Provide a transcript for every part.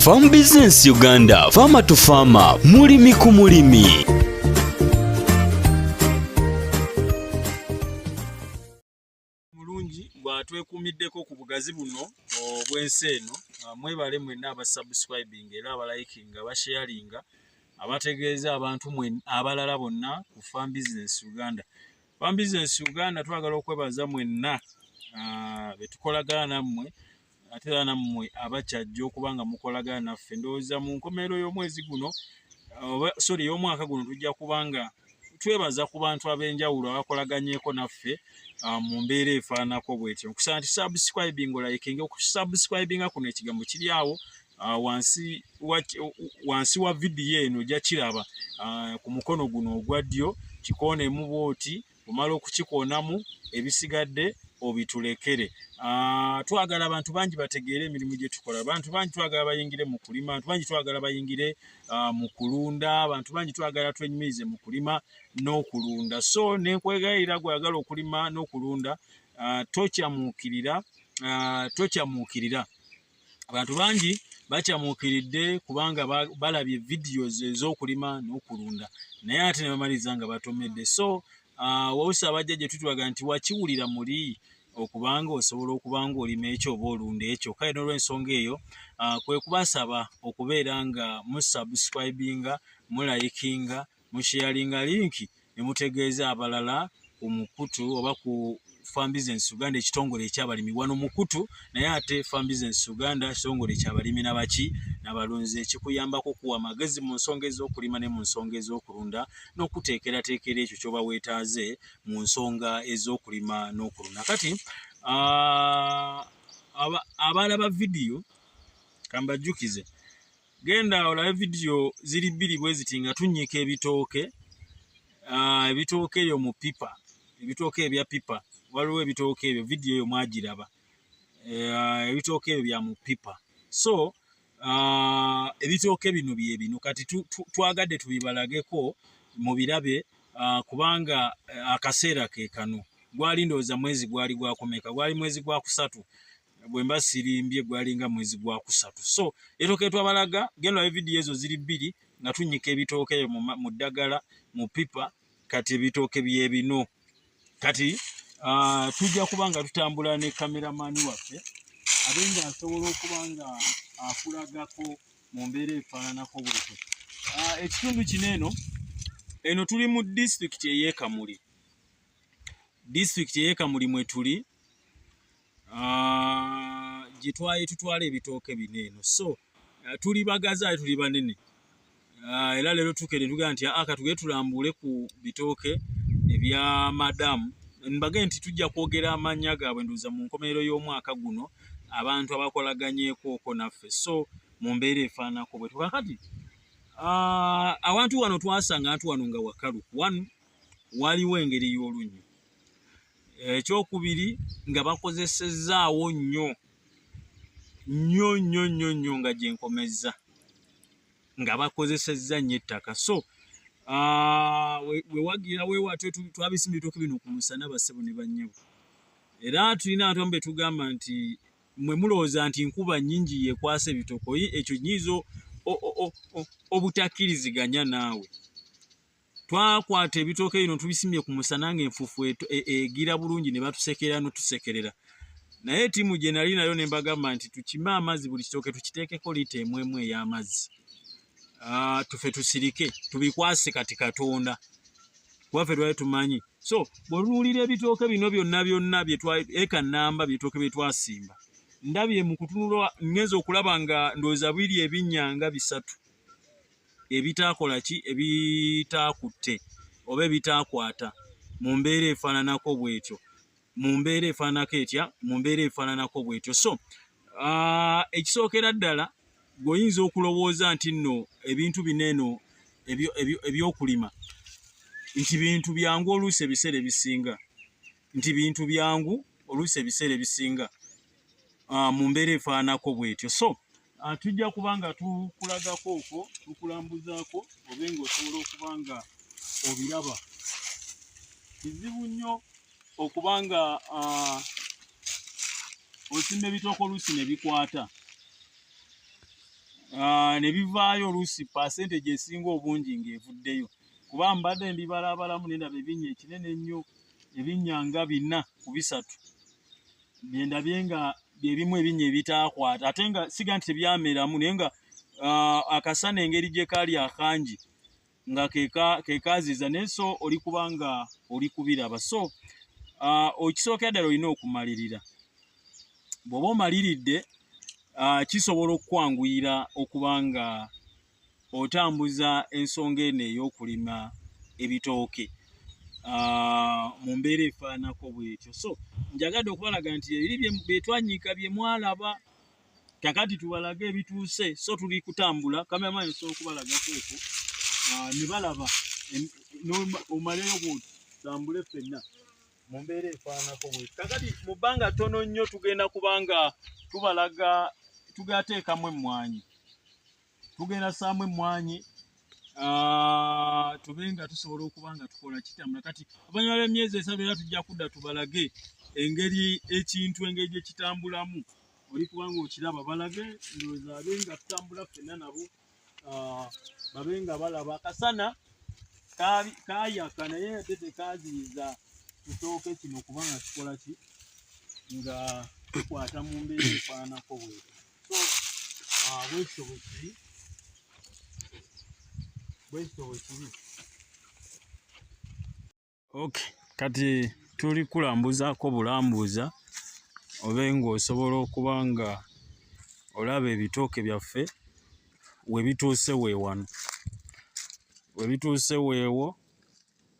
Farm Business Uganda, Farmer to Farmer, mulimi ku mulimi. Mulungi bwatwekuumiddeko ku bugazi buno obw'ensi eno, ah, mwebale mwenna abasubscribing era abalikinga abasharinga abategeeza abantu mwe abalala bonna ku Farm Business Uganda. Farm Business Uganda twagala okwebaza mwenna ah, betukolagana nammwe ate era nammwe abakyajja okuba nga mukolagana naffe ndowooza mu nkomerero y'omwezi guno oba sori y'omwaka guno tujja kuba nga twebaza ku bantu ab'enjawulo abakolaganyeeko naffe ah, mu mbeera efaananako bwetyo nkusaba nti subscribing olayikinga okusubscribinga kuno ekigambo kiri awo ah, wansi wa vidiyo eno ojja kiraba ah, ku mukono guno ogwa ddyo kikoonemu bwoti omala okukikoonamu ebisigadde obitulekere ah, twagala abantu bangi bategeere emirimu gye tukola abantu bangi twagala bayingire mu kulima abantu bangi twagala bayingire ah, mu kulunda abantu bangi twagala twenyumirize mu kulima n'okulunda so nenkwegayirira gweyagala okulima n'okulunda ah, tokyamuukirira tokyamuukirira abantu bangi bakyamuukiridde kubanga balabye videos ez'okulima n'okulunda naye ate ne bamaliza nga batomedde so uh, wawusa abajja gye tutulaga nti wakiwulira muli okubanga osobola okuba ng'olima ekyo oba olunda ekyo kale n'olwensonga eyo uh, kwe kubasaba okubeera nga musubscribinga mulayikinga musheyalinga linki ne mutegeeza abalala ku mukutu oba ku Farm Business Uganda ekitongole ekyabalimi wano mukutu naye ate Farm Business Uganda ekitongole ekyabalimi nabaki nabalunzi ekikuyambako okuwa amagezi mu nsonga ez'okulima ne mu nsonga ez'okulunda n'okuteekerateekera ekyo kyoba weetaaze mu nsonga ez'okulima n'okulunda kati abalaba vidiyo kambajjukize genda olabe vidiyo ziri bbiri bwe ziti nga tunnyika ebitooke ah, ebitooke eyo mu pipa ebitooke ebya pipa waliwo ebitooke ebyo vidiyo eyo mwagiraba eh, ebitooke ebyo bya mu pipa so ah, ebitooke bino bye bino kati twagadde tubibalageko mu birabe ah, kubanga eh, akaseera ke kano gwali ndowooza mwezi gwali gwakomeka gwali mwezi gwa kusatu bwemba sirimbye gwalinga mwezi gwa kusatu so etoke twabalaga genda e video ezo ziri bbiri nga tunyika ebitooke mu ddagala mu pipa kati ebitooke byebino kati uh, tujja kuba nga tutambula ne kameramani waffe abe nga asobola okuba nga akulagako mu mbeera efaananako bwekyo uh, ekitundu kino eno eno tuli mu disitulikiti eyekamuli disitulikiti eyekamuli mwetuli ah, gye twali tutwala ebitooke bino eno so ah, tuli bagazi ali tuli banene ah, era leero tukere tugamba nti aka tugere tulambuule ku bitooke ebya madamu mbage nti tujja kwogera amannya gaabwe nduuza mu nkomerero y'omwaka guno abantu abakolaganyekooko naffe so mu mbeera efaanako bwe tukakati awantu wano twasanga antu wano nga wakalu wanu waliwo engeri y'olunnyo ekyokubiri nga bakozesezzaawo nnyo nnyo nnyo nnyo nnyo nga gyenkomezza nga bakozesezza nnyo ettaka so ah, wewagira wewatyo twabisimba ebitooke bino ku musana bassebo ne bannyabo era tulina abantu amu betugamba nti mwe mulowooza nti nkuba nnyingi yekwasa ebitokoyi ekyo nyiiza obutakkiriziganya naawe twakwata ebitooke bino tubisimye ku musana ng'enfuufu e, egira bulungi ne batusekerera notusekerera naye ttiimu gye nali nayo ne mbagamba nti tukime amazzi buli kitooke tukiteekeko liita emu emu ey'amazzi ah, tufe tusirike tubikwase kati katonda kubafe lwali tumanyi so bwetunuulira ebitooke bino byonna byonna eka namba byetooke bye twasimba ndabye mu kutunula ngenza okulaba nga ndowooza biri ebinnya nga bisatu ebitaakola ki ebitaakutte oba ebitaakwata mu mbeera efaananako bw'etyo mu mbeera efaananako etya mu mbeera efaananako bw'etyo so uh, ekisookera ddala gweoyinza okulowooza nti nno ebintu bino eno ebyokulima nti bintu byangu oluusi ebiseera ebisinga nti bintu byangu oluusi ebiseera ebisinga uh, mu mbeera efaanako bwetyo so uh, tujja kuba nga tukulagako okwo tukulambuzaako obe nga osobola okuba nga obiraba kizibu nnyo okuba nga uh, osimba ebitooko oluusi ne bikwata Ah, ne bivaayo oluusi pasenteji esinga obungi ng'evuddeyo kuba mbadde mbibalabalamu nendaba ebinnya ekinene ennyo ebinnya nga bina ku bisatu byendabye nga byebimu ebinya ebitaakwata ate nga siga nti tebyameramu naye nga uh, akasana engeri gye kaali akangi nga kekaziza naye so oli kubanga oli kubiraba so uh, okisookera ddala olina okumalirira bw'oba omaliridde uh, kisobola okukwanguyira okubanga otambuza ensonga eno ey'okulima ebitooke ah, mu mbeera efaanako bwetyo so njagadde okubalaga nti ebiri byetwanyiika bye mwalaba kakati tubalage ebituuse so tuli kutambula kameramaani osobola okubalagako eko ah, ne balaba omaleyo bwoti tambule ffenna mu mbeera efaanako bwe kakati mu bbanga ttono nnyo tugenda kubanga tubalaga tugateekamu emmwanyi tugenda saamu emmwanyi tube nga tusobola okuba nga tukola kitambula kati abanyuma b'emyezi esatu era tujja kudda tubalage engeri ekintu engeri gye kitambulamu oli kubanga okiraba balage ndowooza abe nga tutambula ffenna nabo babe nga balaba akasana kayaka naye ate tekaziyiza kitooke kino kubanga kikola ki nga tukwata mu mbeera efaananako bweti ok kati tuli kulambuzaako bulambuuza obe ng'osobola okuba nga olaba ebitooke byaffe webituuse weewano webituuse weewo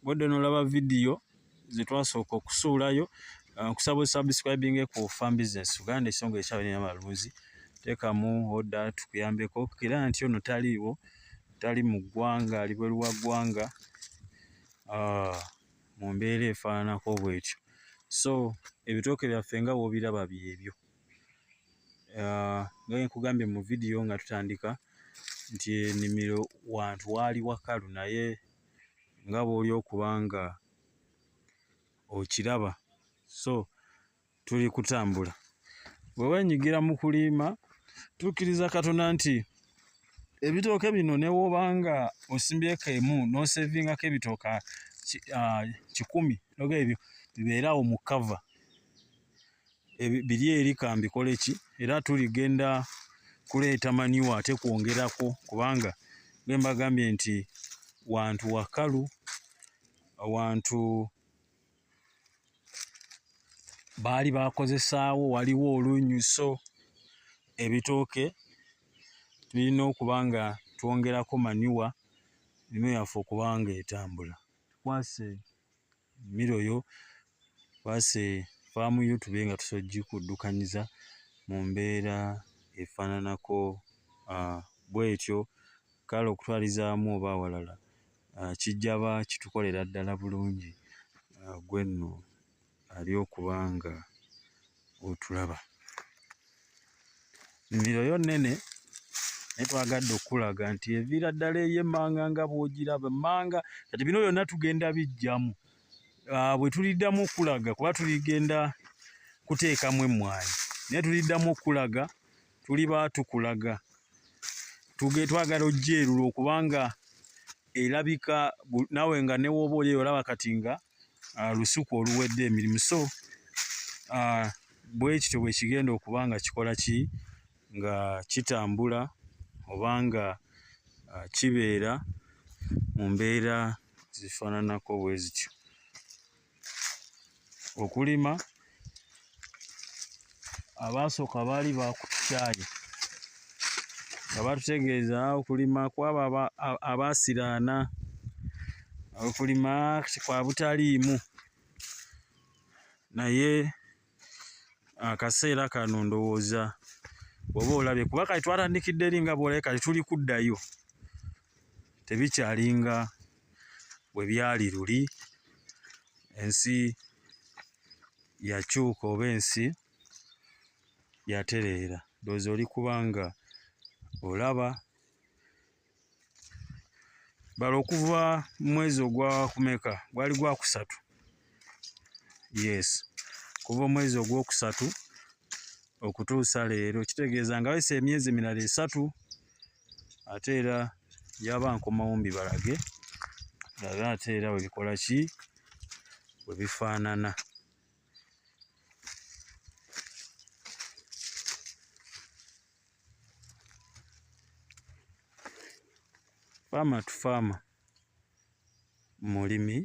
Bwodde nolaba video zetwasooka okusuulayo uh, nkusaba uh, subscribing ku farm business Uganda esonga ekyawe nina malunzi tekamu oda tukuyambeko kira nti ono taliiwo tali mu ggwanga ali bweru wa ggwanga uh, mu mbeera efaananako bwetyo so ebitooke byaffe nga wobiraba byebyo uh, nga nkugambye mu video nga tutandika nti enimiro wantu waali wakalu naye nga bw'oli okuba nga okiraba so tuli kutambula bwe wenyigira mu kuliima tukkiriza katonda nti ebitooke bino newoba nga osimbyeko emu n'osevingako ebitooka kikumi noga ebyo bibeeraawo mu kava biri eri kambikole ki era tuligenda kuleeta maniwa ate kwongerako kubanga bwembagambye nti wantu wakalu wantu baali bakozesaawo waliwo olunyuso ebitooke tulina okuba nga twongerako maniwa nino yaffe okubanga etambula tukwase miro yo kwase faamu yo tube nga tusojjikuddukanyiza mu mbeera efaananako ah, bwetyo kale okutwalizaamu oba awalala ah, kijjaba kitukolera ddala bulungi ah, gwe nno ali okuba nga otulaba nnimiro yo nnene naye twagadde okukulaga nti eviira ddala ey'emmanga nga bw'ogiraba emmanga kati bino byonna tugenda bijjamu ah, bwe tuliddamu okukulaga kuba tuligenda kuteekamu emmwanyi naye tuliddamu okukulaga tuliba tukulaga tuge twagala ojja erula okubanga erabika nawe nga newooba oli eyo olaba kati nga uh, lusuku oluwedde emirimu so uh, bwekityo bwekigenda okuba nga kikola ki nga kitambula oba nga uh, kibeera mu mbeera zifaananako bwe zityo okulima abaasooka baali baakutukyaye nga batutegeeza okulima kwabo abaasiraana okulima kwa butaliimu naye akaseera kano ndowooza oba olabye kuba kati twatandikidde eri nga bwolabe kati tuli kuddayo tebikyalinga bwe byali luli ensi yakyuka oba ensi yatereera ndowooza oli kubanga olaba bala okuva mwezi ogwakumeka gwali gwakusatu yes kuva omwezi ogwokusatu okutuusa leero kitegeeza nga wesa emyezi emirala esatu ate era yaba nkomawo mbibalage labe ate era webikola ki webifaanana faama tufaama mulimi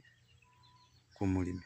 ku mulimi